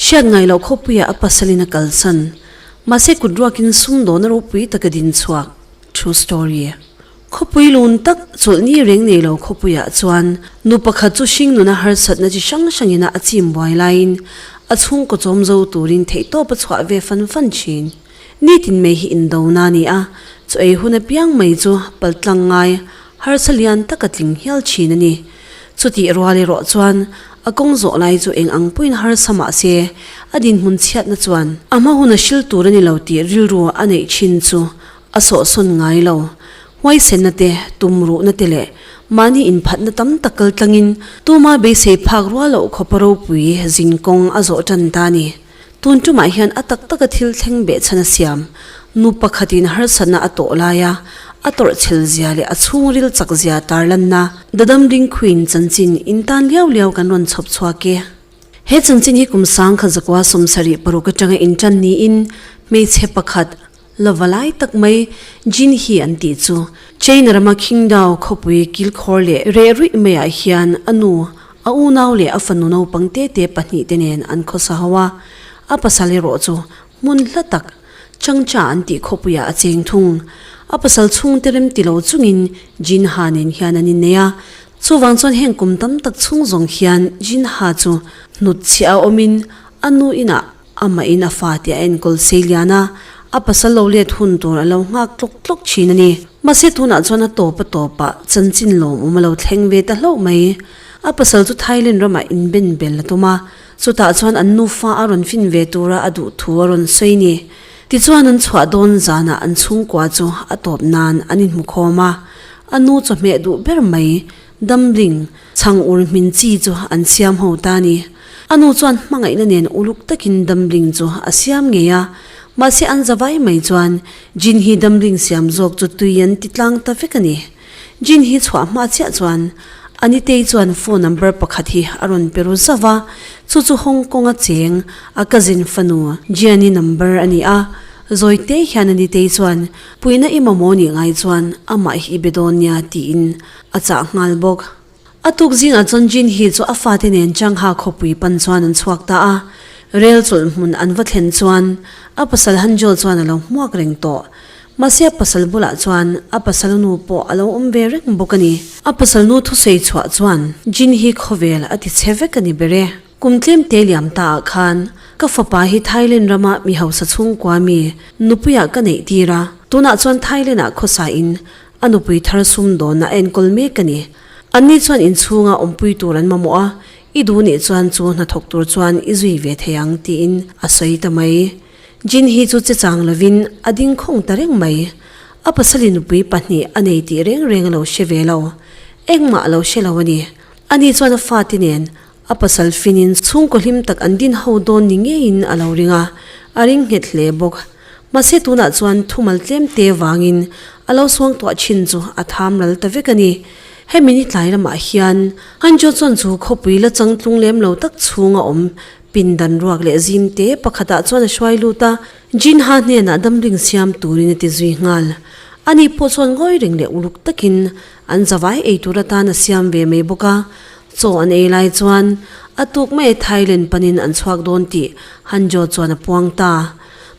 Hriat ngai loh khawpuia a pasalin a kalsan. Mahse kut ruakin sumdawna ropui taka din chhuak. True story. Khawpui lun tak chawlhni reng nei lo khawpuiah chuan nu pakhat chu hringnuna harsatna chi hrang hrangina a chimbuai laiin a chhungkaw chawm zo turin theihtawpa chhuah ve fan fan thin. Nitin mai hi indona a ni a, chu ei hun apiang mai chu paltlang ngai harsa lian taka tling hial thin a ni. Chutih rual erawh chuan a kawng zawh lai chu eng ang pawhin harsa mahse a dinhmun chhiatna chuan a hma hun a hrilh tur a ni lo tih rilru a neih thin chu a sawhsawn ngai lo. Huaisenna te, tum ruhna te leh mahni inphatna tam tak kaltlangin tuma beisei phak rual loh khawpa ropui zin kawng a zawh tan ta a ni. Tun ṭumah hian a tak taka thil thleng beh chhan a siam. Nu pakhatin harsatna a tawh laia a tawrhchhel zia leh a chhungril chak zia tarlanna Dadam Dingkhuin chanchin in tan liau liau kan rawn chhawp chhuak e. He chanchin hi kum sangkhat zakua sawm sarih paruk atanga inṭan niin hmeichhe pakhat, lova lai tak mai Jinhi an tih chu China rama Qingdao khawpui kilkhawr leh reh ruih mai ah hian a nu, a unau leh a fanu naupang te te pahnih te nen an khawsa ho a, a pasal erawh chu hmun hla tak Changcha an tih khawpui ah a cheng thung. A pasal chhung te rem ti lo chung in Jinha nen hian an innei a, chuvang chuan heng kum tam tak chhung zawng hian Jinha chu hnutchhiah a awm in a nu inah Amahin a fate a enkawl sei lian a, a pasal lo let hun tur a lo nghak tlawk tlawk thin a ni. Mahse tunah chuan a tawp a tawp a, chanchin lawmawm a lo thleng ve ta hlauh mai. A pasal chu Thailand ramah inben bel a tum a, chutah chuan an nufa a rawn fin ve tura a duh thu a rawn sawi ni. Tichuan an chhuah dawn zanah an chhungkua chu a tawp nan an inhmukhawm a, a nu chawhmeh duh ber mai. Damhling, chhang ur hmin chi chu an siam ho ta a ni. A nu chuan hmangaihna nen uluk takin Damhling chu a siam ngei a. Mahse an zavai mai chuan Jin hi Damhling siam zawk chu tui an ti tlang ta vek a ni. Jin hi chhuah hma chiah chuan a Nitei chuan phone number pakhat hi a rawn pe ru zauh a, chu chu Hong Konga cheng a cousin fanu Jiani number a ni a. Zawite hian a Nitei chuan puina i mamawni ngai chuan amah hi i be dawn nia tiin A chah nghal bawk. A tuk zingah chuan Jin hi chu a fate nen Changha khawpui pan chuan an chhuak ta a. Rel chulh hmun an va thlen chuan a pasal Hanjo chuan a lo hmuak reng tawh. Mahse a pasal bulah chuan a pasalnu pawh a lo awm ve reng bawk a ni. A pasalnu thusawi chhuah chuan Jin hi khawvel a ti che vek a ni ber e. Kum tlem te liam ta ah khan ka fapa hi Thailand ram a mi hausa chhungkua mi nupui ah ka neih tir a, tun ah chuan Thailand ah khawsa in a nupui thar sum dawn na a enkawl mek a ni. An ni chuan in chhung a awm pui tur an mamawh a, i du nih chuan chu hnathawk tur chuan i zui ve thei ang ti in a sawi ta mai. Jin hi chu che chang lo in a ding khawng ta reng mai. A pasali nupui pahnih a nei tih reng reng a lo hre ve lo, engmah a lo hre lo a ni. A ni chuan a fate nen A pasal finin chhungkaw hlim tak an din ho dawn ni ngeiin a lo ring a, a ring nghet hle bawk. Mahse tunah chuan thumal tlem te vangin a lo suangtuah thin chu a tham ral ta vek a ni. Hemi ni tlai lamah hian Hanjo chuan chu khawpui la chang tlung lem lo tak chhung a awm. Pindan ruak leh zim te pakhatah chuan a hruai lut a, Jinha hnenah damring siam turin a ti zui nghal. Ani pawh chuan ngawi reng leh uluk takin an zavai ei tur atan a siam ve mai bawk a, Chaw an ei lai chuan a tuk mai e, Thailand panin an chhuak dawn tih Han Jo chuan a puang ta.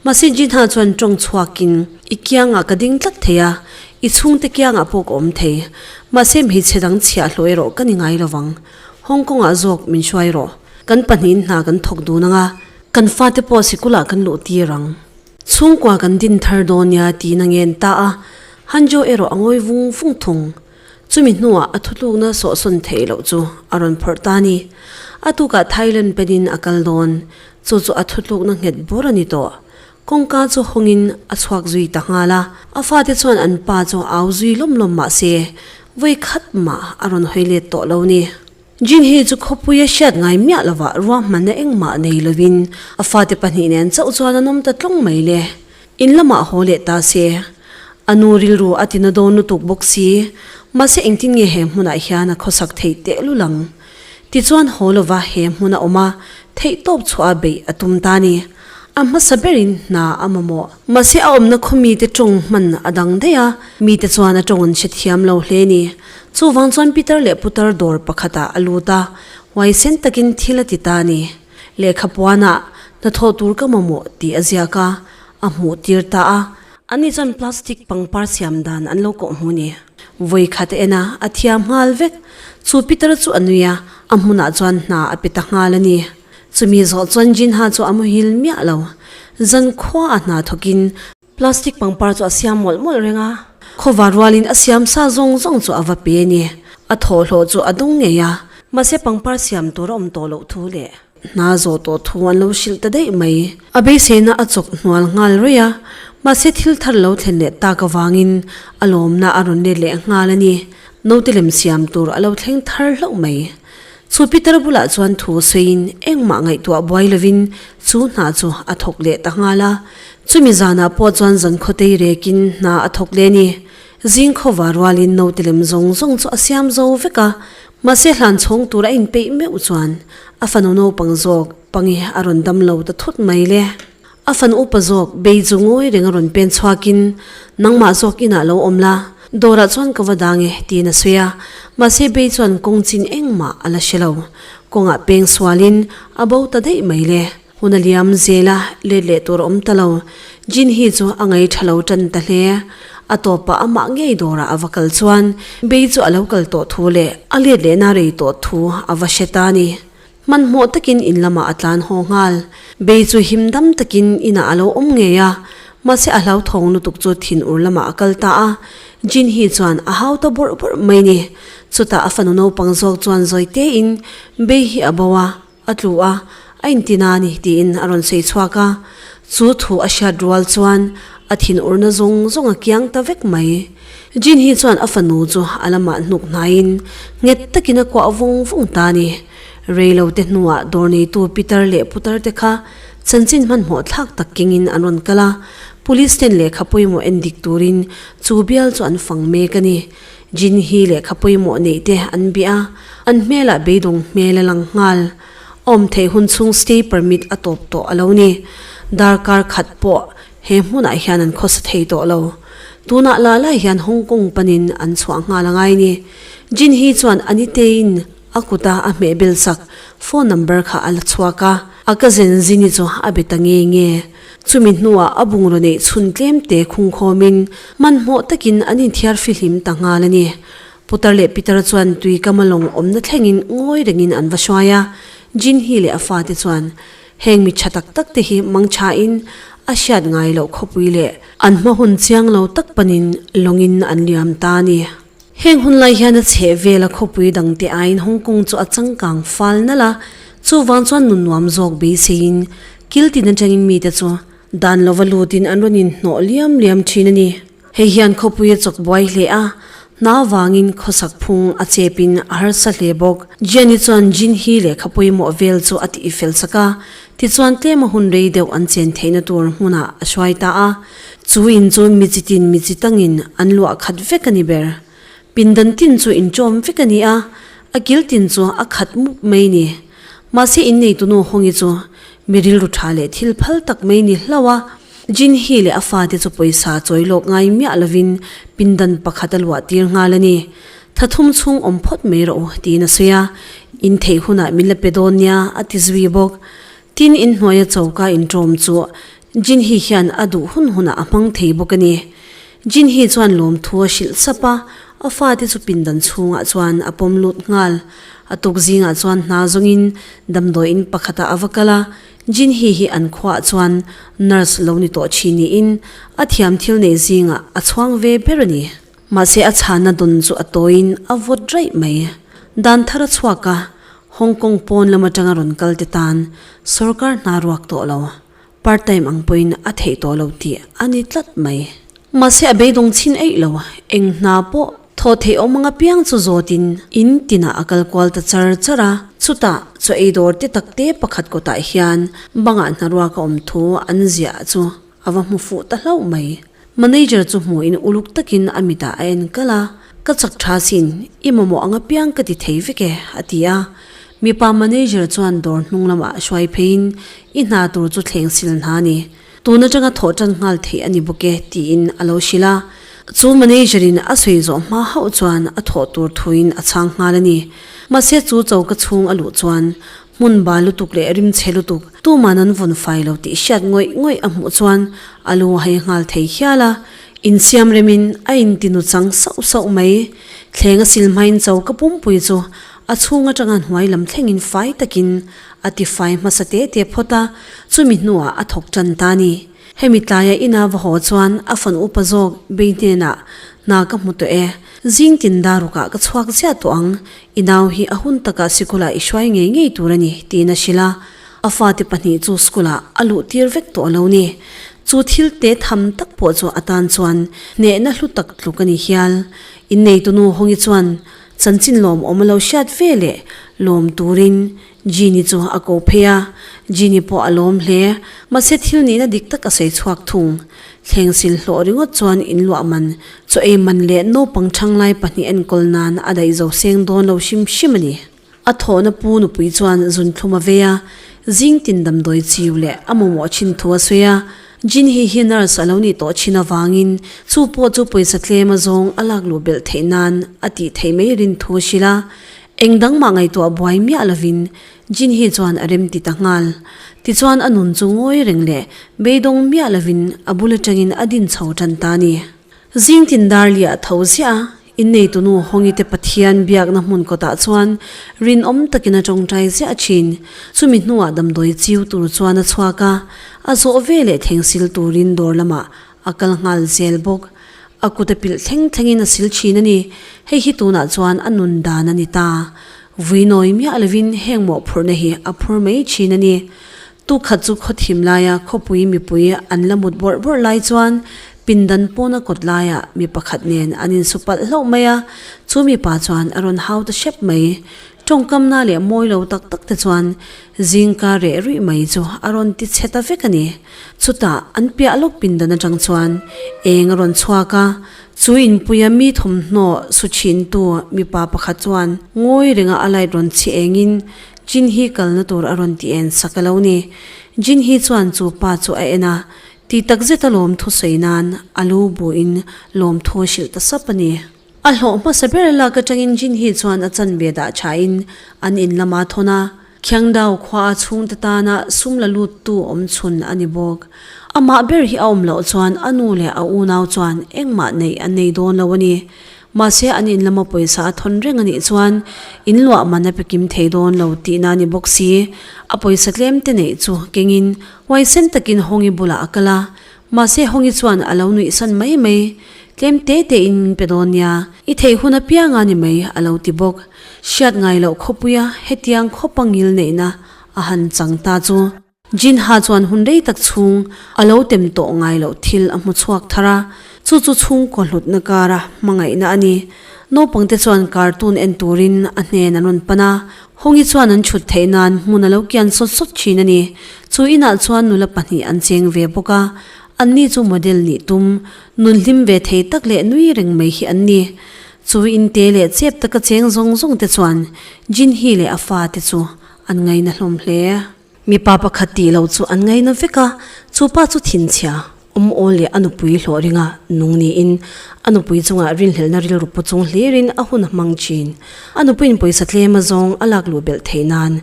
Mahse Jinha chuan tawng chhuakin, I kiangah ka ding tlat thei a, i chhungte kiangah pawh ka awm thei. Mahse mi che dang chhiah hlawh erawh ka ni ngai lo vang. Hong Kongah zawk min hruai rawh. Kan pahnihin hna kan thawk dun ang a. Kan fate pawh sikulah kan luh tir ang. Chhungkua kan din thar dawn nia tiin a ngen ta a, Han Jo erawh a ngawi vung vung thung. Chumi hnuah a thutlukna sawhsawn theih loh chu a rawn phawrh ta ni. A tukah Thailand penin a kal dawn. Chu chu a thutlukna nghet bur a ni tawh. Kawngka chu hawngin a chhuak zui ta nghal a. A fate chuan an pa chu au zui lawm lawm mahse, vawi khat mah a rawn hawi let tawh lo ni. Jinhee chu khawpui a hriat ngai miah lovah ruahmanna engmah nei lovin a fate pahnih nen chauh chuan a nawm ta tlawng mai le. In lamah haw leh ta se. A nu rilru a tina dawn lutuk bawk si. Mahse engtin nge he hmunah hian a khawsak theih tehlul ang? Tichuan haw lova he hmun a awm a, theih tawp chhuaha beih a tum ta ni. A hmasa berin hna a mamawh. Mahse a awmna khaw mite tawng hman a dang daih a, mite chuan a tawng an hre thiam lo hle a ni. Chuvang chuan Pitar leh Putar dawr pakhatah a lut a, huaisen takin thil a ti ta a ni. Lehkha puanah, Hnathawh tur ka mamawh, tih a ziak a, a hmuh tir ta a. Anni chuan plastic pangpar siam dan an lo kawh hmu a ni. Vawi khat en a, a thiam nghal vek. Chu Pitar chu a nui a, a hmunah chuan hna a pe ta nghal a ni. Chumi zawh chuan Jinha chu a muhil miah lo. Zan khua a hna thawkin plastic pangpar chu a siam mawlh mawlh reng a. Khawva rualin a siam sa zawng zawng chu a va pe a ni. A thawh hlawh chu a dawng ngei a. Mahse pangpar siam tur a awm tawh loh thu leh. Hna zawh tawh thu an lo hrilh ta daih mai. A beiseina a chawk hnual nghal ruih a. Mahse thil thar lo thlen leh tak avangin a lawmna a rawn let leh nghal a ni. Naute lem siam tur a lo thleng thar hlauh mai. Chu Peter bulah chuan thu sawiin engmah ngaihtuah buai lovin chu hna chu a thawk leh ta nghal a, chumi zanah pawh chuan zankhawtei rekin hna a thawk leh ni. Zing khova rualin note lem zawng zawng chu a siam zo vek a, mahse hlan chhawng tur a inpeih meuh chuan a fanu naupang zawk pange a rawn dam lo ta thut mai le. A fan upa zawk bei chu ngawi reng a rawn pen chhuak in, Nangmah zawk inah lo awm la, dawrah chuan ka va dang e, tiin a sawi a. Mahse bei chuan kawng chin engmah a la hre lo. Kawngah peng sual in a bo ta daih mai le. Hun a liam zel a, let leh tur a awm ta lo. Jin hi chu a ngei tha lo tan ta hle. A tawpah amah ngei dawrah a va kal chuan, bei chu a lo kal tawh thu leh a let lehna rei tawh thu a va hre ta a ni. Hmanhmawh takin in lamah a tlan haw nghal. Bei chu him dam takin inah a lo awm ngei a, mahse a hlauthawng lutuk chu thin ur lamah a kal ta a. Jinhee chuan a hau ta bawrh bawrh mai ni. Chutah a fanu naupang zawk chuan zawi tein, Bei hi a bo a, a tlu a, a intina a ni tiin a rawn sawi chhuak a. Chu thu a hriat rual chuan a thin urna zawng zawnga kiang ta vek mai. Jin hi chuan a fanu chu a lamah hnuk hnaiin nghet takin a kuah vung vung ta a ni. Reilote hnuah dawr neitu Pitar leh Putar te kha chanchin hmanhmawh thlak tak kengin an rawn kal a, Police ten lehkha pawimawh en dik turin chu bial chu an fang mek a ni. Jin hi lehkha pawimawh neih te an bih a, an hmelah beidawng hmel a lang nghal. Awm theih hun chung stay permit a tawp tawh a lo ni. Dar kar khat pawh He hmunah hian an khawsa thei tawh lo. Tunah la lai hian Hong Kong panin an chhuah nghal a ngai ni. Jin hi chuan a ni tein a kuta a hmeh belsak phone number kha a la chhuak a, a ka zen zini chu a be ta nge nge. Chumi hnuah a bungraw neih chhun tlem te khung khawmin hmanhmawh takin an inthiar fihlim ta nghal a ni. Putar leh Pitar chuan Tuikama lawng awmna thlengin ngawi rengin an va hruai a, Jin hi leh a fate chuan. Heng mi tha tak tak te hi mangtha in a hriat ngai loh khawpui leh an hma hun chiang lo tak panin lawng in an liam ta a ni. Heng hun lai hian a chheh vel a khawpui dang te aiin Hong Kong chu a changkang fal nalh a, chuvang chuan nun nuam zawk beisei in kiltin atangin mite chu dan lova lutin an rawn inhnawh liam liam thin a ni. Hei hian khawpui a chawk buai hle a, hna vangin khawsak phung a chepin a harsa hle bawk. Jiani chuan Jinhee leh khapui mawh vel chu a tih fel sak a, tichuan tlema hun rei deuh an chen theihna tur hmunah a hruai ta a. Chu in chu mi chi tin mi chi tangin an luah khat vek a ni ber. Pindan tin chu inṭawm vek a ni a, a kiltin chu a khat mup mai ni. Mahse inneitunu Hongi chu mi rilru ṭha leh thil phal tak mai ni hlau a. Jinhee leh a fate chu pawisa chawi lawk ngai miah lovin pindan pakhat a luah tir nghal a ni. Tha thum chhung awm phawt mai rawh u tiin a sawi a, in theih hunah min la pe dawn nia a ti zui bawk. Tin in hnuaia choka inṭawm chu Jinhee hian a duh hun hunah a hmang thei bawk a ni. Jinhee chuan lawmthu a hrilh sap a, a fate chu pindan chhungah chuan a pawm lut nghal. A tuk zingah chuan hna zawngin damdawi in pakhatah a va kal a, Jinhee hi an khuaah chuan nurse lo ni tawh thin niin a thiam thil neih zingah a chhuang ve ber a ni. Mahse a chhana dawn chu a tawiin a vawt raih mai. Dan thar a chhuak a, Hong Kong pawn lam atanga rawn kalte tan sawrkar hna ruak tawh lo. Part time ang pawhin a theih tawh lo tih a ni tlat mai. Mahse a beidawng chhin eih lo. Eng hna pawh thaw theih awm ang apiang chu zawtin in tinah a kal kual ta char char a. Chutah chaw ei dawr te tak te pakhat kawtah hian bangah hnaruaka awm thu an ziah chu a va hmu fuh ta hlauh mai. Manager chu hmuhin uluk takin a mitah a enkal a, Ka chak tha sin, i mamawh ang apiang ka ti thei vek e, a ti a. Mipa manager chuan dawr hnung lamah hruai pheiin, I hna tur chu thleng sil hna a ni. Tun atanga thawh tan nghal theih a ni bawk e, tiin a lo hrilh a. Chu manager-in a sawi zawh hma hauh chuan a thawh tur thuin a chhang nghal a ni. Mahse chu choka chhung a luh chuan, hmun ba lutuk leh rim chhe lutuk tumah nan vun fai lo tih hriat ngawih ngawih a hmuh chuan a lu a hai nghal thei hial a, inthiam remin a inti nu chang sauh sauh mai. Thleng a sil hmain cho ka pumpui chu a chhung atanga hnuai lam thlengin fai takin a ti fai hmasa teh teh phawt a, chumi hnuah a thawk tan ta a ni. Hemi tlaia ina va haw chuan a fan upa zawk Bey hnenah, Hna ka hmu tawh e, zing tindah rukah ka chhuak ziah tawh ang, i nau hi a hun takah sikula i hruai ngei ngei tur a ni tiin a hrilh a, a fate pahnih chu sikula a luh tir vek tawh lo ni. Chu thil te tham tak pawh chu atan chuan hnehna hlu tak tluk a ni hial. Inneitunu Hawngi chuan chanchin lawm awm a lo hriat ve leh lawm turin Jeanny chu a ko phei a, Jeanny pawh a lawm hle. Mahse thil nihna dik tak a sawi chhuak thung. Thleng sil hlawh ringawt chuan in luah man, chaw ei man leh naupang thanglai pahnih a enkawl nan a daih zo seng dawn lo hrim hrim a ni. A thawhna pu nupui chuan zun thlum a vei a, zing tin damdawi chiu leh a mawmawh thin thu a sawi a. Jeanny hi nurse a lo ni tawh thin avangin chu pawh chu pawisa tlem a zawng a lak luh belh theih nan a tih theih mai rin thu a hrilh a. Eng dang mah ngaihtuah buai miah lovin Jinhee chuan a remti ta nghal. Tichuan a nun chu ngawi reng leh beidawng miah lovin a bul atangin a din chho tan ta a ni. Zing tindar leh a tho ziah a, inneitunu Hawngite Pathian biakna hmun kawtah chuan rinawm takin a tawngtai ziah thin. Chumi hnuah damdawi chiu tur chuan a chhuak a, a zawh veleh thengsil turin dawr lamah A kal nghal zel bawk. A kut a pilh thleng thlengin a sil thin a ni. Hei hi tunah chuan a nun dan a ni ta. Vui nawi miah lovin heng mawhphurhna hi a phur mai thin a ni. Tu khat chu khaw thim laia khawpui mipui an la mut bawrh bawrh lai chuan pindan pawna kawt laia mi pakhat nen an insu palh hlauh mai a. Chu mipa chuan a rawn hau ta hrep mai. Tawngkamna leh mawi lo tak tak te chuan zingka reh ruih mai chu a rawn ti chhe ta vek a ni. Chutah an piah lawk pindan atang chuan eng a rawn chhuak a, chu inpuia mi thawmhnaw su chhintu mipa pakhat chuan ngawi renga a light rawn chhi engin Jinhi kalna tur a rawn ti en sak e lo ni. Jinhi chuan chu pa chu a en a ti takzet a lawmthu sawi nan a lu buin lawmthu a hrilh ta sap a ni. A hlawh hmasa ber lak atangin Jinhee chuan a chanbia dah thain an in lama thawn a. Khiangdau khuaa chhungte tana sum la luttu awm chhun a ni bawk. Amah ber hi a awm loh chuan a nu leh a unau chuan engmah neih an nei dawn lo a ni. Mahse an in lama pawisa a thawn reng a nih chuan in luah man a pekim thei dawn lo tihna a ni bawk si. A pawisa tlemte neih chu kengin huaisen takin Hawngi bulah a kal a, Mahse Hawngi chuan a lo nuihsan mai mai, Tlem te te in pe dawn nia, i theih hun apiang a ni mai a lo ti bawk. Hriat ngai loh khawpuia hetiang khawpa ngil neihna a han chang ta chu. Jinha chuan hun rei tak chhung a lo tem tawh ngai loh thil a hmu chhuak thar a, chu chu chhungkaw hlutna kara hmangaihna a ni. Naupangte chuan cartoon en turin a hnen an rawn pan a, Hawngii chuan an chhut theih nan hmun a lo kian sawt sawt thin a ni. Chu inah chuan nula pahnih an cheng ve bawk a, anni chu model nih tum, nun hlim ve thei tak leh nui reng mai hi an ni. Chu in te leh chep taka cheng zawng zawng te chuan Jinhee leh a fate chu an ngaina hlawm hle. Mipa pakhat tih lo chu an ngaih na vek a, chu pa chu thinchhia Awmawl leh a nupui hlawh ringa nung niin a nupui chungah rinhlelhna rilru pu chung hlirin a hun hmang chin. A nupuiin pawisa tlema zawng a lak luh belh theih nan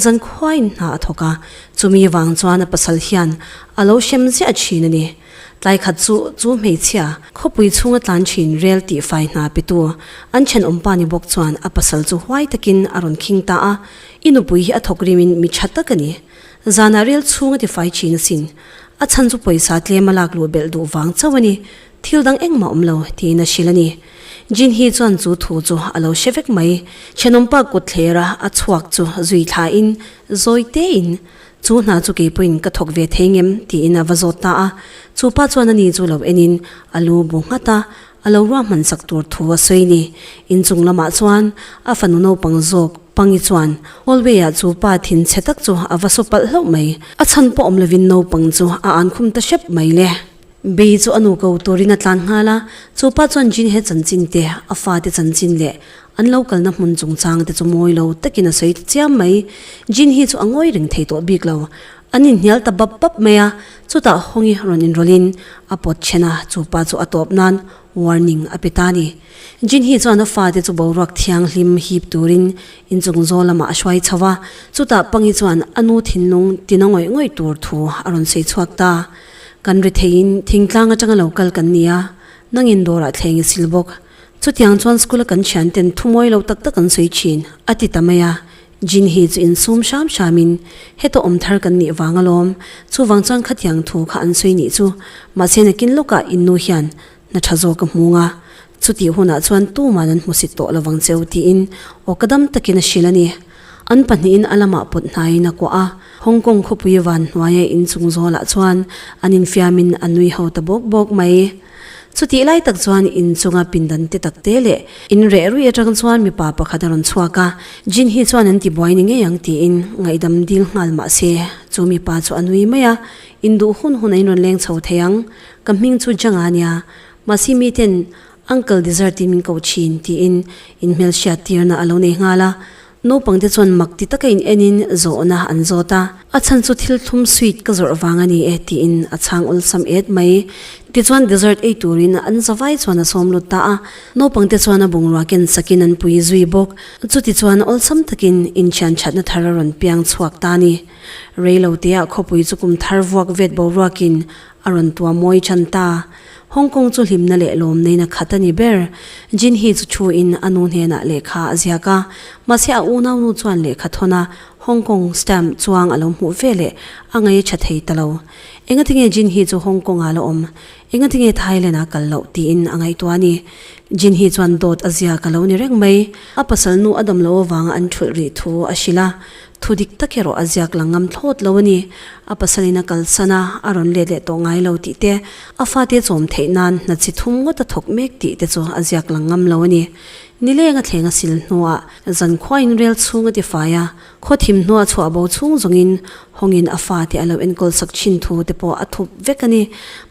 zan khuain hna a thawk a, chumi vang chuan a pasal hian a lo hrem ziah chin a ni. Tlai khat chu chu hmeichhia khawpui chhunga tlan chin rel tihfai hna petu an thenawm pa ni bawk chuan a pasal chu huai takin a rawn khing ta a, I nupui hi a thawk rim in mi tha tak a ni. Zan ah rel chhung a ti fai thin asin. A chhan chu pawisa tlem a lak luh belh duh vang chauh a ni. Thil dang engmah awm lo tiin a hrilh a ni. Jin Hee chuan chu thu chu a lo hre vek mai. Thenawm pa kut thler a a chhuak chu zui thla in zawi te in, Chu hna chu kei pawhin ka thawk ve thei ngem? tiin a va zawt ta a. Chu pa chuan a ni chu lo en in a lu bu nghat a. A lo ruahmansak tur thu a sawi ni. Inchung lamah chuan a fanu naupang zawk Pangi chuan hallway ah chu pa thin chhe tak chu a va saw palh hlauh mai. A chhan pawh awm lovin naupang chu a an khum ta hrep mai le. Bee chu a nu ko turin a tlan nghal a, chu pa chuan Jin he chanchin te, a fate chanchin leh an lo kalna hmun chungchang te chu mawi lo takin a sawi chiam mai. Jin hi chu a ngawi reng thei tawh bik lo. An inhnial ta bap bap mai a. Chutah Hawng-i rawn inrawlhin a pawt chhen a, chu pa chu a tawp nan warning a pe ta ni. Jin-hee chuan a fate chu boruak thianghlim hip turin inchung zawl lamah a hruai chho a, chutah Pang-i chuan a nu thinlung tina ngawih ngawih tur thu a rawn sawi chhuak ta. Kan ri theiin thingtlang atanga lo kal kan ni a, nangin dawrah thleng i sil bawk. Chutiang chuan school-a kan thiante'n thumawi lo tak tak an sawi thin, a ti ta mai a, Jinhee chu insum hram hramin, Heta awm thar kan nih vang alawm, chuvang chuan khatiang thu kha an sawi nih chu. Mahse nakin lawkah Innu hian hna tha zawk a hmung a, chutih hunah chuan tuman an hmusit tawh lovang che u tiin aw ka dam takin a hrilh a ni. An pahnihin a lamah pawt hnaiin a kuah a, Hong Kong khawpui van hnuaia inchung zawlah chuan an infiamin a nui ho ta bawk bawk mai. Chutih lai tak chuan in chunga pindan te tak te leh in reh ruih atang chuan mipa pakhat a rawn chhuak a, Jin hi chuan an ti buai ni ngei ang tiin ngaihdam dil nghal mah se chu mipa chu a nui mai a, in duh hun hunah in rawn leng chho thei ang, ka hming chu Zhang a nia, mahse miten uncle dessert in min ko thin tiin in hmelhriat tirna a lo nei nghal a, Naupangte chuan mak ti takin enin zawhna an zawt a, a chhan chu thil thlum sweet ka zawrh vang a ni e tiin a chhang awlsam et mai. Tichuan dessert ei turin an zavai chuan a sawm lut ta a, naupangte chuan a bungrua ken sakin an pui zui bawk. Chutichuan awlsam takin inthian thatna thar a rawn piang chhuak ta a ni. Rei lo teh a khawpui chu kum thar vuak vet boruakin A rawn tuam mawi ṭhan ta. Hong Kong chu hlimna leh lawm neina khat a ni ber. Jin Hee chu ṭhuin a nu hnenah lehkha a ziak a. Mahse a unau nu chuan lehkha thawn a Hong Kong stamp chuang a lo hmuh ve leh a ngei ṭha thei ta lo. Engatinge Jin Hee chu Hong Kong-ah a la awm? Engatinge Thailand-ah kal loh? tiin a ngaihtuah a ni. Jin Hee chuan dawt a ziak a lo ni reng mai. A pasalnu Adam Lo avanga an ṭhulh rih thu a hrilh a, Thu dik tak erawh a ziak lang ngam thlawt lo a ni. A pasalin a kalsan a, a rawn let leh tawh ngai lo tih te, a fate chawm theih nan hna chi thum ngawt a thawk mek tih te chu a ziak lang ngam lo a ni. Ni leng a thleng a sil hnuah Zankhuain rel chhung a tifai a, khaw thim hnuah chhuah bo chhung zawngin hawngin a fate a lo enkawl sak thin thu te pawh a thup vek a ni.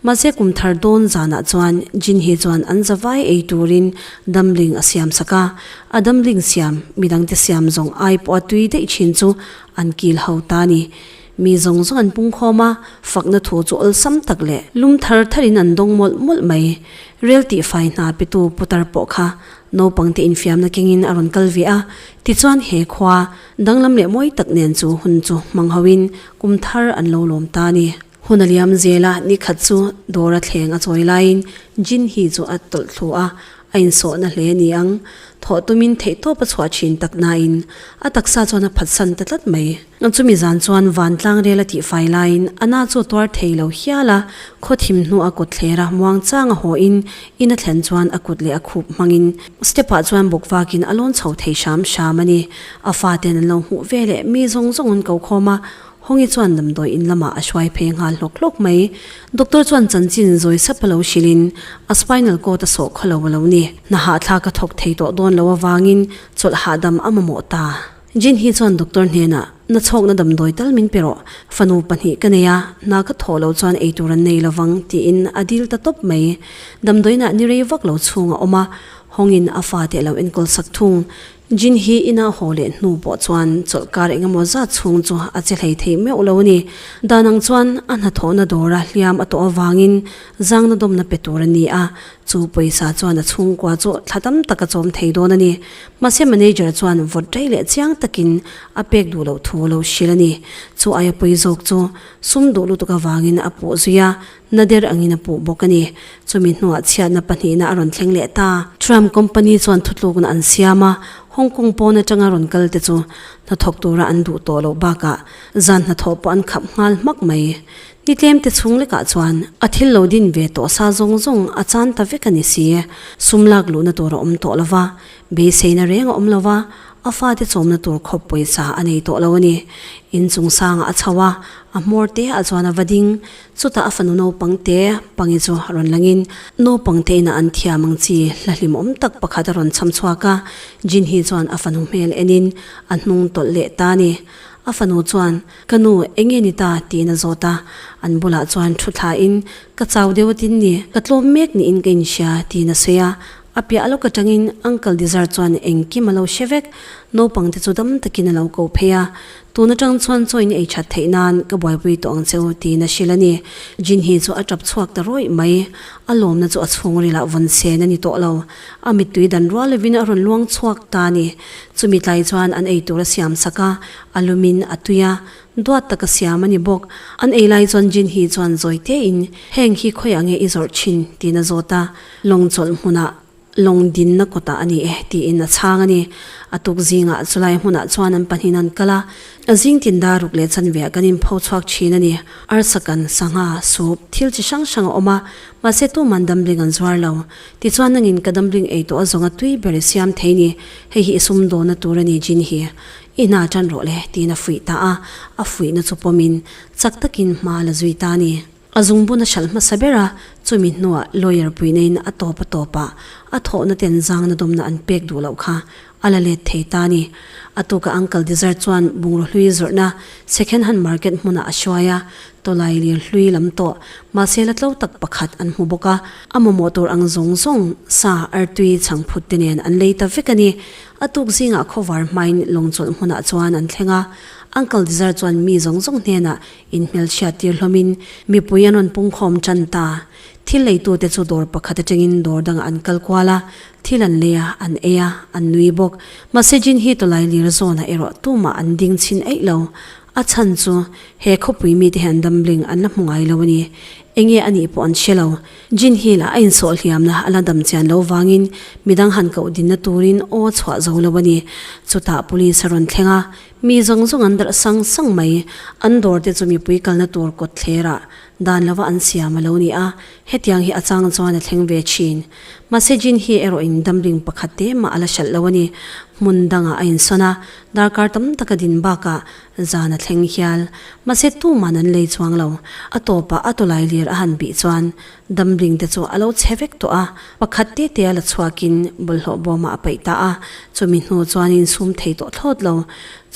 Mahse kum thar dawn zanah chuan Jinhi chuan an za vai ei turin damling a siam sak a, A damhling siam, mi dangte siam zawng ai pawh a tui daih thin chu an kil ho ta a ni. Mi zawng zawng an pungkhawm a, fakna thu chu awlsam tak leh. Lum thar thar in an dawng mawlh mawlh mai. Rel tih fai hna petu putar pawh kha naupang te infiamna keng in a rawn kal ve a, tichuan he khua danglam leh mawi tak nen chu hun chu hmang ho in kum thar an lo lawm ta a ni. Hun a liam zel a, ni khat chu dawr a thleng a chawi laiin Jinhee chu a tawlh thluah a, a insawhna hle a ni ang. Thawh tumin theihtawp a chhuah thin tak nain a taksa chuan a phatsan ta tlat mai. Chumi zan chuan Vantlang rel a tih fai laiin Anna chu a tuar thei lo hial a, khaw thim hnu a kut thler a, muang chang a hawiin in a thlen chuan a kut leh a khup hmangin step-ah chuan buk vakin a lawn chho thei hram hram a ni. A faten an lo hmuh veleh mi zawng zawngin ko khawm a, Hawngyi chuan damdawi in lamah a hruai phei nghal hlawk hlawk mai. Doctor chuan chanchin zawi sap a lo hrilh in, A spinal cord a sawh khaw lo a lo ni. Hnahah thla ka thawk thei tawh dawn lo avangin chawlh hahdam a mamawh ta. Jinhee chuan doctor hnenah, Na chhawkna damdawi tal min pe rawh. Fanu pahnih ka nei a, hna ka thawh lo chuan eitur an nei lovang, tiin a dil ta tawp mai. Damdawiinah ni rei vak lo chhung a awm a, Hawngyin a fate a lo enkawl sak thung. Jin hi inah haw leh hnu pawh chuan chawlh kar engemaw zat chhung chu a che hlei theih meuh lo a ni. Dan ang chuan a hnathawhna dawra hliam a tawh avangin zangna dawmna pe tur a ni a, chu pawisa chuan a chhungkua chu thla tam tak a chawm thei dawn a ni. Mahse manager chuan vawt rei leh chiang takin a pek duh loh thu a lo hrilh a ni. Chu aia pawi zawk chu sum duh lutuk avangin a puh zui a, Nader angin a puh bawk a ni. Chumi hnuah chhiatna pahnihna a rawn thleng leh ta. Trump company chuan thutlukna an siam a, Hong Kong pawn atanga rawn kalte chu hnathawk tura an duh tawh loh bakah zan hnathawh pawh an khap nghal hmak mai. Ni tlemte chhung lekah chuan a thil lo din ve tawh sa zawng zawng a chan ta vek a ni si. Sum lak luhna tur a awm tawh lo va, beiseina reng a awm lo va, a fate chawmna tur khawp pawisa a nei tawh lo a ni. In chungsanga a chho a, a hmawr te ah chuan a va ding. Chutah a fanu naupangte pangi chu a rawn langin naupangte inah an thiam ang chi hla hlim awm tak pakhat a rawn chham chhuak a, Jinhee chuan a fanu hmel enin a hnung tawlh leh ta a ni. A fanu chuan, Ka nu, eng nge ni ta? tiin a zawt a, an bulah chuan thu thlain, Ka chau deuh a tin ni, ka tlawm mek niin ka inhria, tiin a sawi a, A piah lawk atangin uncle Dizar chuan engkim a lo hre vek. Naupangte chu dam takin a lo ko phei a, tun atang chuan chawiin ei that theih nan ka buaipui tawh ang che u tiin a hrilh a ni. Jinhee chu a tap chhuak ta ruih mai. A lawmna chu a chhungrila vun sen a ni tawh lo. A mittui dan rual lovin a rawn luang chhuak ta a ni. Chumi tlai chuan an ei tura siam sak a, a lumin a tui a. Duat taka siam a ni bawk. An ei lai chuan Jin hi chuan zawi tein, Heng hi khawiah nge i zawrh thin? tiin a zawt a, lawng chawlh hmunah lawng dinna kawtah a ni e tiin a chhang a ni. A tuk zingah chulai hmunah chuan an pahnihin an kal a, a zing tinda ruk leh chanveah kan inpho chhuak thin a ni. Arsakan, sangha, sup, thil chi hrang hrang a awm a, mahse tuman damling an zuar lo. Tichuan nangin ka damling ei tawh a zawnga tui ber i siam thei ni, hei hi i sum dawna tur a ni Jin hi. I hna tan rawh le, tiin a fuih ta a, a fuihna chu pawmin chak takin hma la zui ta a ni. A zungbun a hralh hmasa ber a, chumi hnuah lawyer puineiin a tawp a tawp a, a thawhna ten zangna dawmna an pek duh loh kha a la let thei ta a ni. A tuka uncle Desert chuan bungraw hlui zawrhna second hand market hmuna a hruai a, tawlai lir hlui lam tawh mahse la tlo tak pakhat an hmu bawk a, a mamawh tur ang zawng zawng sa artui chhang phut te nen an lei ta vek a ni, A tuk zingah khawvar hmain lawng chawlh hmunah chuan an thleng a. Uncle Dizar chuan mi zawng zawng hnenah in hmelchhiat tir hlawmin mipui an rawn pungkhawm tan ta. Thil leitute chu dawr pakhat atangin dawr dangah an kal kual a, thil an lei a, an ei a, an nui bawk. Mahse Jin hi tawlai lir zawnah erawh tumah an ding chhin eih lo. A chhan chu, he khawpui mite hian dumbling an la hmu ngai lo a ni. Enge a nih pawh an hre lo. Jinhil a insawh hliamna a la dam chian lo vangin midang han koh dinna turin aw chhuah zo lo a ni. Chutah Police a rawn thleng a, mi zawng zawng an darh sang sang mai. An dawr te chu mipui kalna tur kawt thlerah dan lova an siam a lo ni a, hetiang hi a chang chuan a thleng ve thin. Mahse Jinhi erawh in damling pakhat te mah a la hralh lo a ni. Hmun dangah a insawn a, darkar tam taka din bakah Zan a thleng hial. Mahse tumah nan lei chuang lo. A tawpah a tawlai lir a han bih chuan damling te chu a lo chhe vek tawh a, pakhat te te a la chhuakin bawlhhlawh bawmah a paih ta a, chumi hnu chuanin sum thei tawh thlawt lo.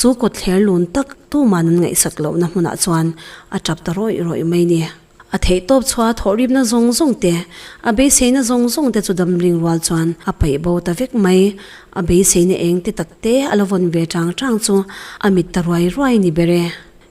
Chu kawtthler lun tak tumah nan ngaihsak lohna hmunah chuan a tap ta rawih rawih mai ni. A theihtawp chhuaa thawhripna zawng zawng te, a beiseina zawng zawng te chu damhring rual chuan a paih bo ta vek mai. A beiseina eng te tak te a la vawn ve chang chang chu a mit ta ruai ruai ni ber e.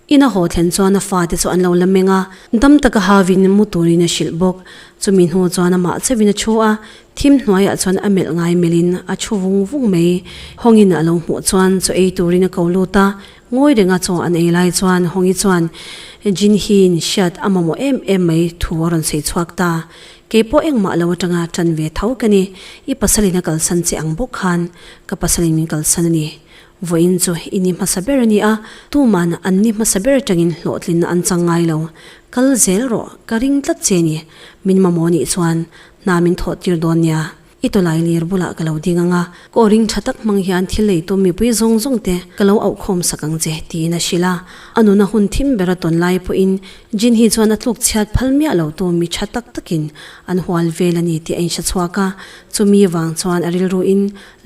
In a haw thlen chuan a fa te chu an lo la meng a, dam taka havin mu turin a hrilh bawk. Chumi hnu chuan a mah chauhin a thu a, thim hnuaiah chuan a melh ngai melh in a thu vung vung mai. Hawngin a lo hmuh chuan chu ei turin a ko lut a, Ngawi reng a chaw an ei lai chuan Hawngyi chuan Jinhii in hriat a mamawh em em mai thu a rawn sawi chhuak ta. Kei pawh engmah lo atanga tan ve tho ka ni. I pasalin a kalsan che ang bawk khan ka pasalin min kalsan a ni. Vawiin chu i ni hmasa ber a nia, tuman an ni hmasa ber atangin hlawhtlinna an chang ngai lo. Kal zel rawh, ka ring tlat che a ni. Min mamawh a nih chuan hna min thawhtir dawn nia. I tawlai lir bulah ka lo ding ang a, ka aw ring tha tak hmang hian thil lei tum mipui zawng zawng te ka lo auh khawm sak ang che tiin a hrilh a. A nun a hun thim ber a tawn lai pawhin Jin hi chuan a tluk chhiat phal miah lo tu mi tha tak takin an hual vel a ni tih a inhre chhuak a, chumi vang chuan a rilru in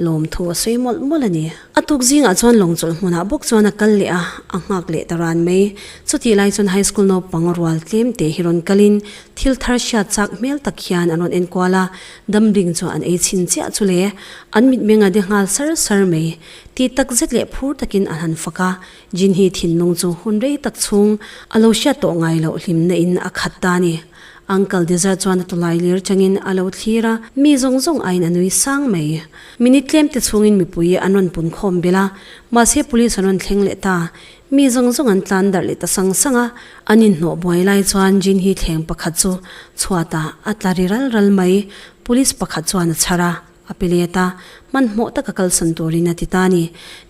lawm thu a sawi mawlh mawlh a ni. A tuk zingah chuan lawng chawlh hmunah bawk chuan a kal leh a, a nghak leh ta ran mai. Chutih lai chuan high school naupang rual tlem te hi rawn kalin thil thar hriat chak hmel tak hian an rawn enkual a, Damding chuan an ei chhin chiah chu le, an mitmeng a de nghal sar sar mai. Ti tak zet leh phur takin an han fak a, Jinhee thinlung chu hun rei tak chhung a lo hriat tawh ngai loh hlimna in a khat ta a ni. Uncle Dezar chuan a tawlai lir changin a lo thlir a, mi zawng zawng aiin a nui sang mai. Minute tlemte chhungin mipui an rawn pun khawm belh a, mahse police an rawn thleng leh ta. Mi zawng zawng an tlan darh leh ta sang sang a, an inhnawh buai lai chuan Jinhee thleng pakhat chu chhuatah a tla ri ral ral mai. Police pakhat chuan a chhar a, a pe let a, hmanhmawh taka kalsan turin a ti ta a ni.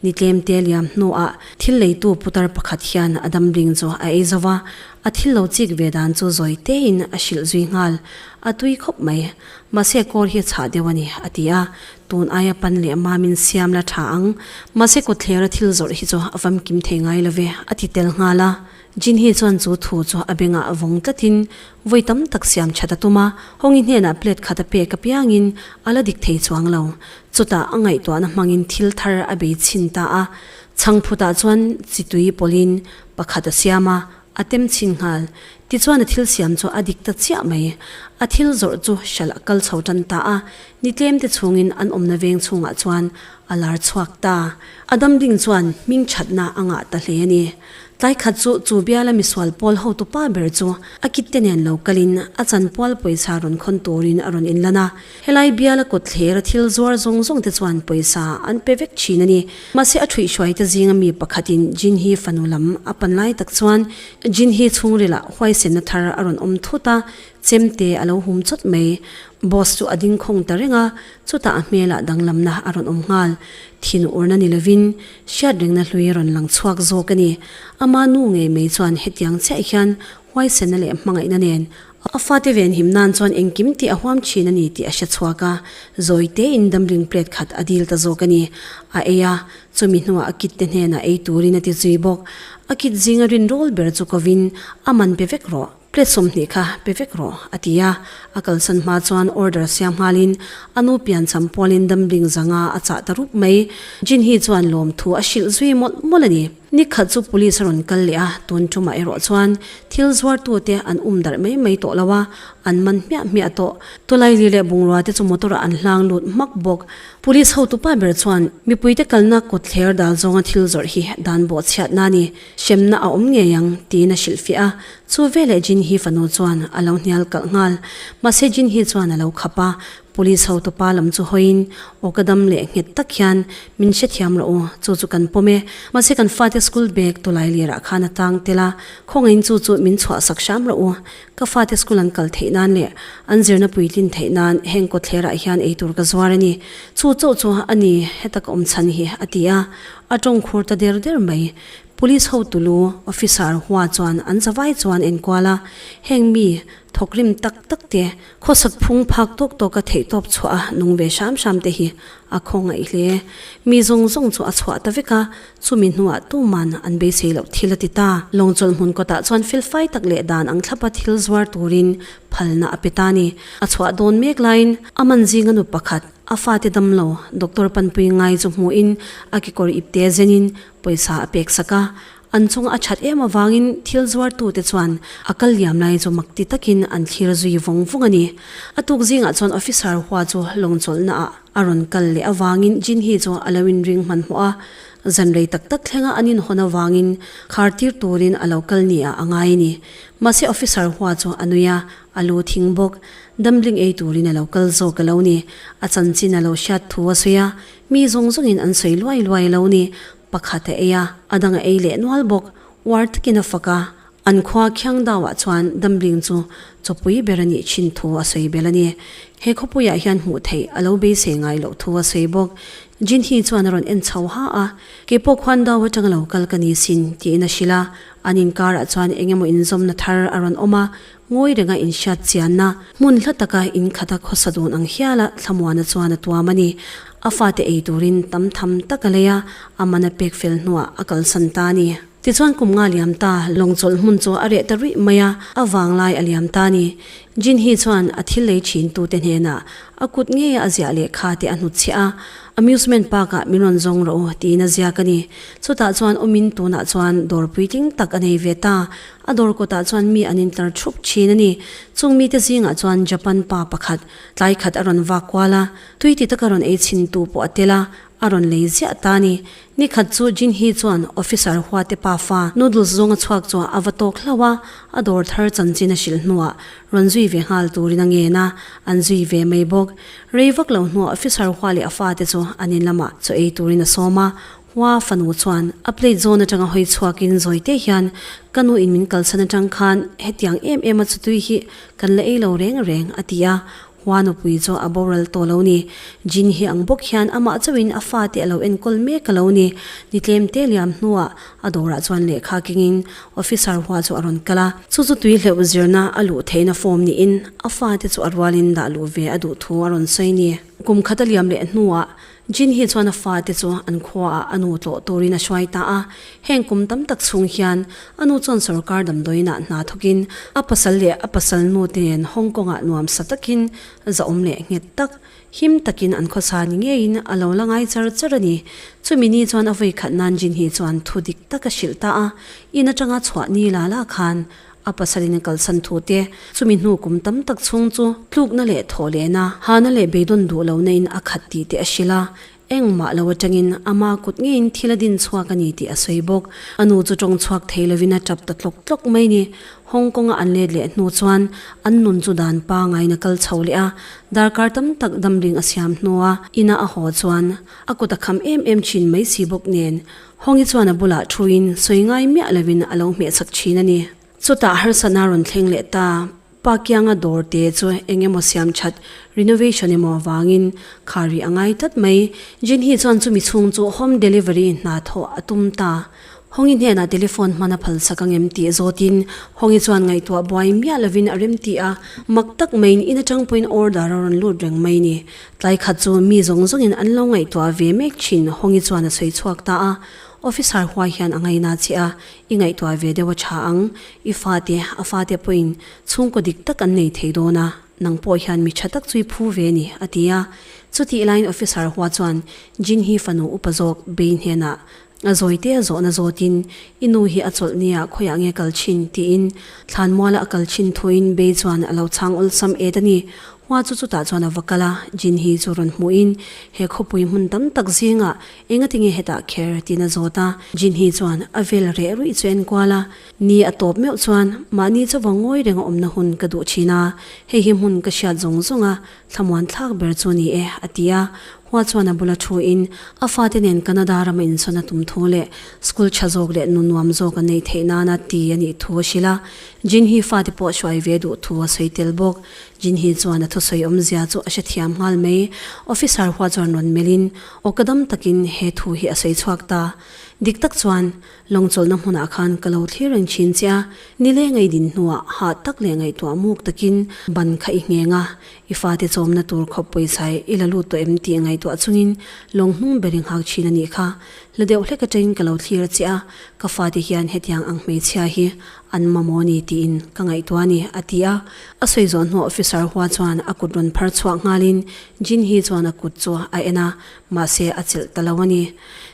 Ni tlem te liam hnuah thil leitu putar pakhat hian a damling chu a ei zo va, a thil lo chik ve dan chu zawi tein a hrilh zui nghal, a tui khawp mai. Mahse kawr hi a chhah deuh a ni, a ti a, Tun aia pan leh mam in siam la tha ang. Mahse kawtthler a thil zawrh hi chu a famkim thei ngai lo ve. A ti tel nghal a. Jinhee chuan chu thu chu a beng ah vawng tlat in vawi tam tak siam that a tum a. Hawngi hnen ah plate khat a pek apiang in a la dik thei chuang lo. Chutah a ngaihtuah na hmang in thil thar a bei chhin ta a. Chhang phut ah chuan chi tui pawlh in pakhat a siam a, A tem chhin nghal. Tichuan a thil siam chu a dik ta chiah mai. A thil zawrh chu hral a kal chho tan ta a. Ni tlemte chhungin an awmna veng chungah chuan a lar chhuak ta. A dam ding chuan hming thatna a ngah ta hle a ni. Tlai khat chu chu biala misual pawl hotu pa ber chu a kitte nen lo kalin a chanpual pawisa rawn khawn turin a rawn inlan a. Helai biala kawtthler thil zuar zawng zawng te chuan pawisa an pe vek thin a ni. Mahse a thuihhruai te zinga mi pakhatin Jinhee fanu lam a pan lai tak chuan Jinhee chhungrila huaisenna thar a rawn awm thut a, chem te a lo hum chawt mai. Boss chu a dingkhawng ta reng a, chutah a hmela danglamna a rawn awm nghal. Thin urna ni lovin hriatrengna hlui a rawn lang chhuak zawk a ni. Ama nu ngei mai chuan hetiang chiah hian huaisenna leh hmangaihna nen A fate venhim nan chuan engkim ti a huam thin a ni tih a hre chhuak a, zawite in damling plate khat a dil ta zawk a ni. A ei a, chumi hnuah a kitte hnenah ei turin a ti zui bawk. A kit zinga rin rawl ber chu kovin, A man pe vek rawh, plate sawmhnih kha pe vek rawh, a ti a. A kalsan hma chuan order siam nghalin a nu pian cham pualin damling zanga a chah ta rup mai. Jin hi chuan lawmthu a hrilh zui mawlh mawlh a ni. Ni khat chu police a rawn kal leh a, tun tumah erawh chuan thil zuartute an um darh mai mai tawh lo a, an man hmiah hmiah tawh. Tulaili leh bungrauate chu motor ah an hlang lut hmak bawk. Police hotupa ber chuan mipuite kalna kut thler dal zawnga thil zawrh hi dan bawh chhiat na ni hremna a awm ngei ang tiin a hrilh fiah a. Chu veleh Jinhee fanu chuan a lo hnial kalh nghal. Mahse Jinhee chuan a lo khap a. Police hotu pa lam chu hawiin, Aw ka dam leh nghet tak hian min hrethiam rawh u, chu chu kan pawm e. Mahse kan fate school bag tulai lirah khan a tang tel a, khawngain chu chu min chhuahsak hram rawh u. Ka fate school an kal theih nan leh an zirna puitlin theih nan heng kawtthlerah hian ei tur ka zuar a ni. Chu chauh chu a ni heta ka awm chhan hi, a ti a. A tawngkhur ta der der mai. Police hotu lu, officer, hua chuan an zavai chuan enkual a, heng mi thawkrim tak tak te Khawsak phung phak tawk tawk a theih tawp chhuah a, nung ve hram hram te hi a khaw ngaih hle. Mi zawng zawng chu a chhuah ta vek a, chumi hnuah tuman an beisei loh thil a ti ta. Lawng chawlhmun kawtah chuan felfai tak leh dan ang thlap a thil zuar turin phalna a pe ta ni. A chhuah dawn mek laiin a man zinga nu pakhat a fate dam lo doctor panpui ngai chu hmuhin a kekawr ipte zenin pawisa a peksak a, An chunga a that em avangin thil zuartute chuan a kal liam lai chu mak ti takin an thlir zui vawng vawng a ni. A tuk zingah chuan officer hua chu lawng chawlhnaah a rawn kal leh avangin Jinhee chu a lo inring hmanhmawh a, zan rei tak tak thlenga an inhawn avangin khartir turin a lo kal nia a ngai a ni. Mahse officer hua chu a nui a, a lu thing bawk. Damhling ei turin a lo kal zawk a lo ni. A chanchin a lo hriat thu a sawi a, mi zawng zawngin an sawi luai luai a lo ni. Pakhat a ei a, a dang a ei leh nual bawk. Uar takin a fak a, an khua khiang dau ah chuan Damling chu chawpui ber a nih chin thu a sawi bel a ni. He khawpui ah hian hmuh theih a lo beisei ngai loh thu a sawi bawk. Jinhee chuan a rawn en chho ha a, kei pawh khuan dau atang lo kal ka ni sin, tiin a hrilh a. An inkar ah chuan engemaw inzawmna thar a rawn awm a, Ngawi renga inhriat chianna, hmun hla taka inkhata khawsa dun ang hiala Thlamuana chuan a tuam a ni. A fate ei turin tam tham tak a lei a, a man a pek fel hnuah a kalsan ta a ni. Tichuan kum nga liam ta lawng chawlh hmun chu a reh ta ruih mai a, a vang lai a liam ta a ni. Jinhee chuan a thil lei thintute hnenah a kut ngeia a ziah leh kha te a hnut chhiah a, Amusement park ah min rawn zawng rawh u tiin a ziak a ni. Chutah chuan awmin tunah chuan dawr puitling tak a nei ve ta, A dawr kawtah chuan mi an intlar thup thin a ni. Chung mite zingah chuan Japan pa pakhat tlai khat a rawn vak kual a, tui ti taka rawn ei chhin tu pawh a tel a, a rawn lei ziah ta a ni. Ni khat chu Jinhee chuan officer huate pa fa noodles zawng a chhuak chu a va tawk hlauh a, a dawr thar chanchin a hrilh hnuah rawn zui ve nghal turin a ngen a, an zui ve mai bawk. Rei vak lo hnuah officer hua leh a fate chu an in lamah chaw ei turin a sawm a, Hua fanu chuan a plate zawn atanga hawi chhuakin zawite hian ka nu in min kalsan atang khan hetiang em em a chutui hi kan la ei lo reng reng a ti a, Hua nupui chu a boral tawh lo ni. Jin hi ang bawk hian amah chauhin a fate a lo enkawl mek a lo ni. Ni tlem te liam hnuah a dawrah chuan lehkha kengin officer Hua chu a rawn kal a, chu chu tui hleuh zirna a luh theihna form niin a fate chu a rualin dah luh ve a duh thu a rawn sawi ni. Kum khat a liam leh hnuah Jin hi chuan a fate chu an khuaah a nu tlawh turin a hruai ta a. Heng kum tam tak chhung hian a nu chuan sorkar damdawiinah hna thawkin a pasal leh a pasal nu te nen Hong Kongah nuam sa takin zahawm leh nghet tak, him takin an khawsa ni ngeiin a lo la ngai char char a ni. Chumi ni chuan a vawi khat nan Jin hi chuan thu dik tak a hrilh ta a, in atanga chhuah ni la la khan A pasalin a kalsan thu te, chumi hnu kum tam tak chhung chu tlukna leh thawhlehna, hahna leh beidawn duh lohna in a khat tih te a hrilh a. Engmah lo atangin ama kut ngeiin thil a din chhuak a ni tih a sawi bawk. A nu chu tawng chhuak thei lovin a tap ta tlawk tlawk mai ni. Hong Konga an let leh hnu chuan an nun chu dan pangaiin a kal chho leh a. Darkar tam tak damling a siam hnua ina a haw chuan a kut a kham em em thin mai si bawk nen, Hawngyi chuan a bulah thuin sawi ngai miah lovin a lo hmeh chhak thin a ni. Chutah harsatna rawn thleng leh ta. Pa Kianga dawr te chu eng emaw siam that, renovation emaw avangin kha rih a ngai tlat mai. Jinhee chuan chumi chhung chu home delivery hna thawh a tum ta. Hawngyi hnenah telephone hmana phalsak ang em tih zawtin Hawngyi chuan ngaihtuah buai miah lovin a remti a. Mak tak maiin in atang pawhin order a rawn lut reng mai a ni. Tlaikhat chu mi zawng zawngin an lo ngaihtuah ve mek thin, Hawngi chuan a sawi chhuak ta a, Officer huai hian a ngaina che a, I ngaihtuah ve deuh a tha ang, i fate, a fate pawhin chhungkaw dik tak an nei thei dawn a, nang pawh hian mi tha tak chu i phu ve ni, a ti a. Chutih lain Officer hua chuan Jin hi fanu upa zawk Bei hnenah A zawite a zawhna zawtin, I nu hi a chawlh nia, khawiah nge kal thin? tiin Thlanmuala a kal thin thuin Bey chuan a lo chhang awlsam et a ni. Hua chu chutah chuan a va kal a, Jinhee chu rawn hmuhin, He khawpui hmun tam tak zingah enga tinge hetah kher? tiin a zawt a, Jinhee chuan a vel reh ruih chu a enkual a, Ni a tawp meuh chuan, Mahni chauva ngawi renga awmna hun ka duh thin a, hei hi hmun ka hriat zawng zawng a, Thlamuan thlak ber chu a ni e, a ti a. Hua chuan a bula thuin, A fate nen Canada rama insawn a tum thu leh school tha zawk leh nu nuam zawk a neih theih nana ti a nih thu a hrilh a. Jinhee fate pawh hruai ve duh thu a sawi tel bawk. Jinhee chuan a thusawi awmzia chu a hrethiam nghal mai. Officer Hua chuan rawn melhin, Aw ka dam takin he thu hi a sawi chhuak ta. Dik tak chuan, Lawmchawlhna hmunah khan ka lo thlir reng thin che a, ni leh ngei din hnuah hah tak leh ngaihtuah muk takin ban kha i ngheng a, i fate chawmna tur khawp pawichai i la lut tawh em tih ngaihtuah chungin lawng hnung ber i nghak thin a nih kha. Hla deuh hlek atangin ka lo thlir che a, ka fate hian hetiang ang hmeichhia hi an mamawh a ni tiin ka ngaihtuah a ni, a ti a. A sawi zawh hnuah officer hua chuan a kut rawn phar chhuak nghalin Jin hi chuan a kut chu a en a, Mahse a chelh ta lo a ni.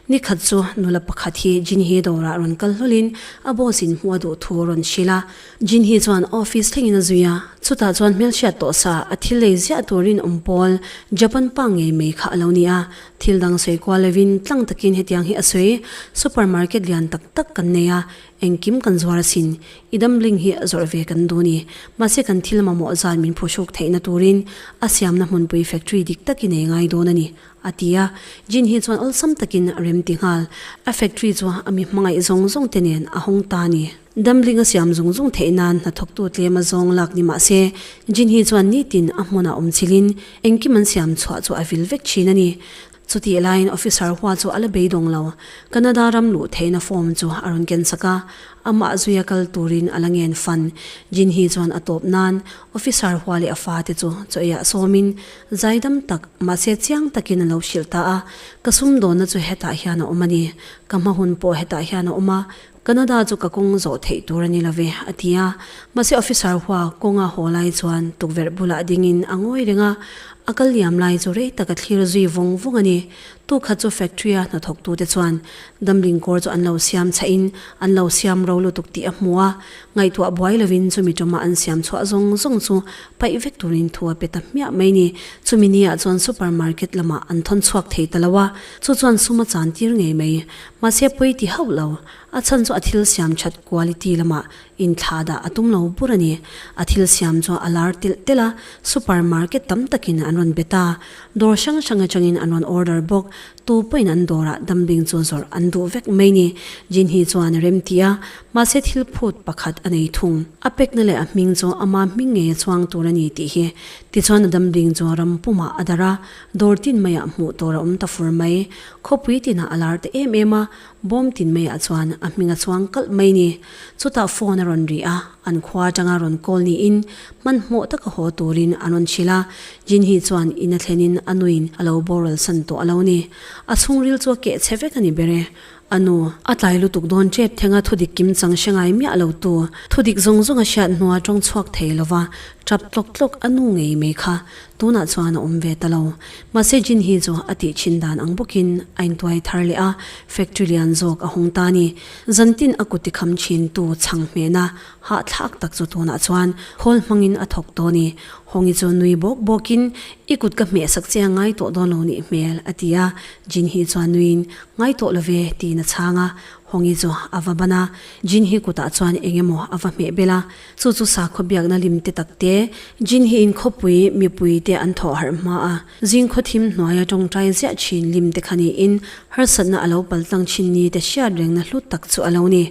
Ni khat chu nula pakhat hi Jinhee dawrah rawn kal hlawlin a boss in hmu a duh thu a rawn hrilh a. Jinhee chuan office thlengin a zui a, chutah chuan hmelhriat tawh sa a thil lei ziah turin awm pawl Japan pa ngei mai kha a lo ni a. Thil dang sawi kual lovin tlang takin hetiang hi a sawi, Supermarket lian tak tak kan nei a, Engkim kan zuar asin, i damhling hi a zawrh ve kan duh ni. Mahse kan thil mamawh zan min phuhruk theihna turin a siamna hmunpui factory dik tak i nei ngai dawn a ni, a ti a. Jin hi chuan awlsam takin a rem ti nghal. A factory chu a mi hmangaih zawng zawng te nen a hawng ta a ni. Damhling a siam zung zung theih nan hnathawktu tlem a zawng lak ni mah se, Jin hi chuan nitin a hmunah awmchilhin engkim an siam chhuah chu a vil vek thin a ni. Chutih laiin officer hua chu a la beidawng lo. Canada ram luh theihna form chu a rawn ken sak a, amah zui a kal turin a la ngen fan. Jinhee chuan a tawp nan, officer hua leh a fa te chu chawi ah sawmin zaidam tak, mahse chiang takin a lo hrilh ta a, Ka sum dawnna chu hetah hian a awm a ni, ka hmahun pawh hetah hian a awm a, Canada chu ka kawng zawh theih tur a ni lo ve, a ti a. Mahse officer hua kawng a haw lai chuan tukverh bulah dingin a ngawi reng a, a kal liam lai chu rei taka thlir zui vawng vawng a ni. Tu khat chu factory a hnathawktute chuan damling kawr chu an lo siam chhahin an lo siam ro lutuk tih a hmu a, ngaihtuah buai lovin chumi tawma an siam chhuah zawng zawng chu paih vek turin thu a pe ta hmiah mai ni. Chumi ni ah chuan supermarket lamah an thawn chhuak thei ta lo a, chu chuan sum a chan tir ngei mai. Mahse pawi ti hauh lo, a chhan chu a thil siam that quality lamah inthlah dah a tum lo bur a ni. A thil siam chu a lar telh telh a, super market tam takin an rawn be ta, dawr hrang hrang atangin an rawn order bawk, tu pawhin an dawrah dumping chu zawrh an duh vek mai ni. Jinhni chuan a remti a, mahse thil phut pakhat a nei thung. A pekna leh a hming chu ama hming ngei a chuang tur a ni tih hi. Tichuan a dumping chu ram pumah a dar a, dawr tin maiah hmuh tur a awm ta fur mai. Khawpui tinah a lar ta em em a, bawm tin maiah chuan a hming a chuang kalh mai ni. Chutah phone a rawn ri a, an khua atanga rawn call niin hmanhmawh taka haw turin a rawn hrilh a, Jinhee chuan in a thlenin a nuin a lo boral san tawh a lo ni. A chhungril chu a keh che vek a ni ber e, a nu. A tlai lutuk dawn ṭep thenga thudik kim chang hre ngai miah lo tu, thudik zawng zawng a hriat hnuah a ṭawng chhuak thei lova, ṭap tlawk tlawk a nu ngei mai kha, Tunah chuan a awm ve ta lo. Mahse Jin hi chu a tih chin dan ang bawkin a intuai thar leh a, factory lian zawk a hawng ta a ni. Zantin a kut i kham chin tu chhang hmehna hahthlak tak chu tunah chuan khawl hmangin a thawk tawh a ni. Hawngyi chu nui bawk bawkin, I kut ka hmehsak che a ngai tawh dawn lo nih hmel, a ti a. Jin hi chuan nuiin, Ngai tawh lo ve, tiin a chhang a. Hawngyi chu a va ban a, Jin hi kutah chuan engemaw a va hmeh belh a. Chu chu sakhaw biakna limte takte. Jin hi inkhawpui mipuite an thawh harh hma a, zingkhaw thim hnuaia tawngtai ziah thin limte kha niin harsatna a lo pal tlang thin ni te hriat rengna hlut tak chu a lo ni.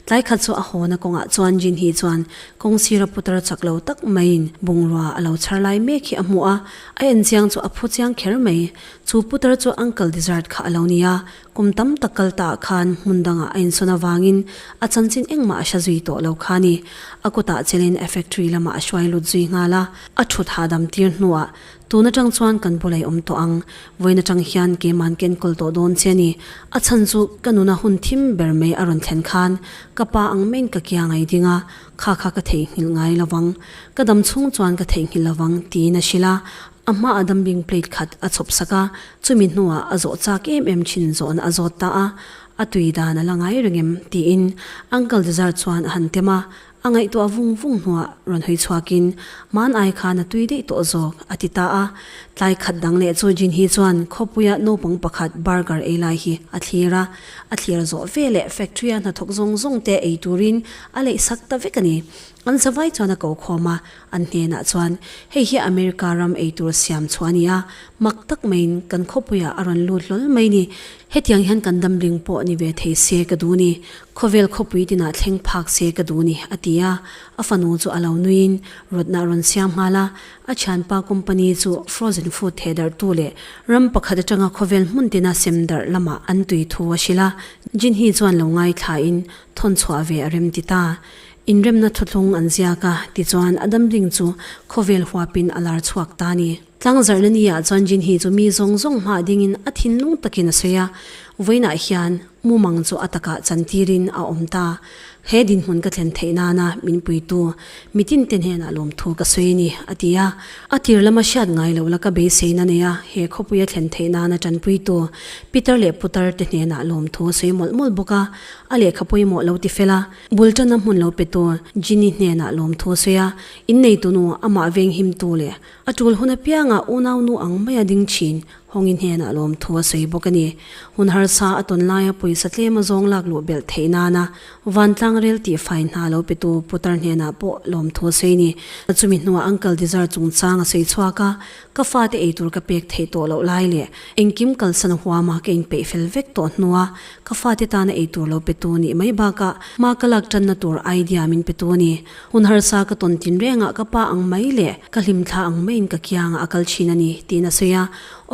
Tlai khat chu a hawna kawngah chuan Jin hi chuan kawng sira putar chak lo tak maiin bungrua a lo chhar lai mek hi a hmu a, a enchiang chu a phu chiang kher mai. Chu putar chu uncle dessert kha a lo ni a, Kum tam tak kal ta ah khan hmun dang ah a insawn avangin a chanchin engmah a hre zui tawh lo kha a ni. A kutah chelin a factory lam ah a hruai lut zui nghal a, a thut hahdam tir hnu ah tun atang chuan kan bu lei awm tawh ang. Vawiin atang hian keiman ka enkawl tawh dawn che a ni. A chhan chu ka nun a hun thim ber mai a rawn thlen khan ka pa ang main ka kia ngai ding a, kha kha ka theihnghilh ngai lovang. Ka dam chhung chuan ka theihnghilh lovang tiin a hrilh a. A hmaah dumping plate khat a chhawp sak a, chumi hnuah a zawh chak em em thin zawhna a zawt ta a, a tui dan a la ngai reng em? tiin uncle Dezar chuan a han tem a, a ngaihtuah vung vung hnuah rawn hawi chhuakin, Hmanai khan a tui daih tawh zawk, a ti ta a, tlai khat dang leh chu Jinhee chuan khawpuia naupang pakhat burger ei lai hi a thlir a, a thlir zawh ve leh factory a hnathawk zawng zawng te ei turin a leih sak ta vek a ni, an zavai chuan a ko khawm a, An hnenah chuan, Hei hi America ram eitur siam chhuah a ni a, mak tak maiin kan khawpuiah a rawn lut hlawl mai ni. Hetiang hian kan damling pawh ni ve thei se ka duh ni, khawvel khawpui tinah thleng phak se ka duh ni, a ti a. A fanu chu a lo nuiin rawtna a rawn siam nghal a. A thianpa company chu frozen food thehdarhtu leh ram pakhat atanga khawvel hmuntina sem darh lamah an tui thu a hrilh a, Jinhee chuan lo ngaithla in thawn chhuah ve a remti ta. Inremna thuthlung an ziak a, tichuan a damding chu khawvel huapin a lar chhuak ta a ni. Tlangzarhna ni ah chuan Jinhee chu mi zawng zawng hma dingin a thinlung takin a sawi a, vawiinah hian mumang chu a takah chantirin a awm ta. He dinhmun ka thlen theih nana min puitu mitinte hnenah lawmthu ka sawi a ni, a ti a. A tir lama hriat ngai loh la ka beiseiin a nei a, he khawpui a thlen theih nana tanpuitu Pitar leh Putar te hnenah lawmthu a sawi mawlh mawlh bawk a, a lehkha pawimawh lo ti fel a. Bul tana hmun lo pe tur Jinny hnenah lawmthu a sawi a, in neitunu amah venghimtu leh a tul hun apianga unaunu ang maia ding thin Hawngin hnenah lawmthu a sawi bawk a ni. Hun harsa a tawn laia pawisa tlem a zawng lak luh belh theih nana vantlang rel tih fai hna lo petu putar hnenah pawh lawmthu a sawi a ni. Chumi hnuah uncle Dizar chungchang a sawi chhuak a, Ka fate eitur ka pek theih tawh loh lai leh engkim kalsan huama ka inpeih fel vek tawh hnua ka fate tana eitur lo petu nih mai bakah ma ka lak tanna tur idea min petu a ni. Hun harsa ka tawn tinrengah ka pa ang mai leh ka hlimthla ang maiin ka kiangah a kal thin a ni tiin a sawi a.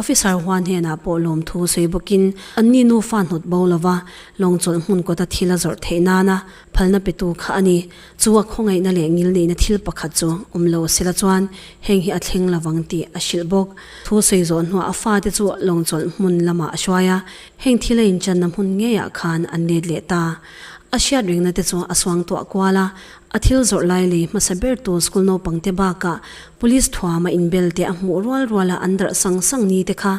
Officer hua hnenah pawh lawmthu sawi bawkin anni nufa hnawt bo lova lawngchawlh hmun kawta thil a zawrh theih nana Phalna petu kha a ni. Chu a khawngaihna leh ngil neihna thil pakhat chu awm lo se la chuan heng hi a thleng lo vang tih a hrilh bawk. Thu sawi zawh hnuah a fate chu lawng chawlh hmun lamah a hruai a, heng thil a inchanna hmun ngeiah khan an let leh ta. A hriat rengna te chu a suang tuah kual a, a thil zawrh lai lei hmasa ber tu school naupangte bakah police thuama inbelte a hmuh rual rual a an darh sang sang ni te kha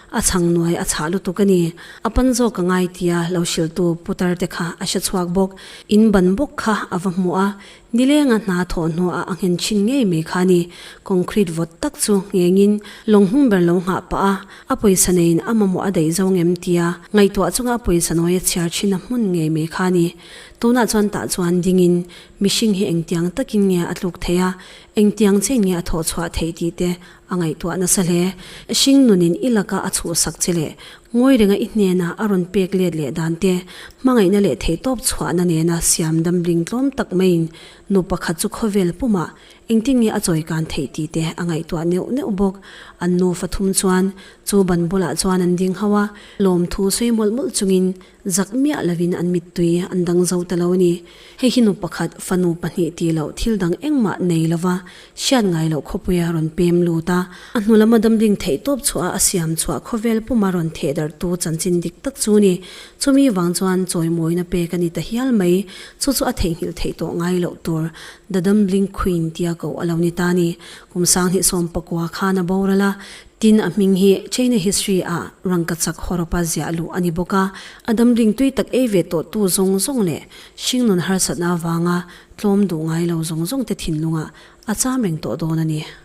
A chhang nuai a chhah lutuk a ni. A pan zawk ka ngai tia lo hrilhtu Pu Tarte kha a hre chhuak bawk. In ban bawk kha a va hmu a, ni lenga hna thawh hnuah a nghen thin ngei mai kha a ni. Concrete vawt tak chu nghengin lawnghnung ber lo nghah pah a, a pawisa neiin a mamawh a daih zawng em tia ngaihtuah chunga a pawisa nuai a chhiar thin a hmun ngei mai kha a ni. Tunah chuan tah chuan dingin mihring hi engtiang takin nge a tluk theih a, engtiang chen nge a thawh chhuah theih tih te A ngaihtuah nasa hle. Hring nunin i laka a chhuhsak che leh Ngawirenga i hnena a rawn pek let leh dan te, hmangaihna leh theihtawp chhuahna nena siam damling tlawm tak maiin nu pakhat chu khawvel puma engtin nge a chawi kan theih tih te a ngaihtuah neuh neuh bawk. An nu fathum chuan chu ban bulah chuan an ding hauh a, lawmthu sawi mawlh mawlh chungin Zak miah lovin an mittui an dang zo ta lo a ni. Hei hi nu pakhat, fanu pahnih ti loh thil dang engmah nei lova hriat ngai loh khawpuia rawn pem lut a, a hnu lama damding theih tawp chhuaha a siam chhuah khawvel puma rawn thehdarhtu chanchin dik tak chu a ni. Chumi vang chuan chawimawina pek a ni ta hial mai, chu chu a theihnghilh theih tawh ngai loh tur The Dumbling Queen tia koh a lo ni ta a ni. Kum sang hnih sawm pakua khan a boral a, Tin, a hming hi China history ah Rangkachak Horopa ziah luh a ni bawk a, a damding tui tak ei ve tawh tu zawng zawng leh hringnun harsatna avanga tlawm duh ngai lo zawng zawng te thinlung ah a cham reng tawh dawn a ni.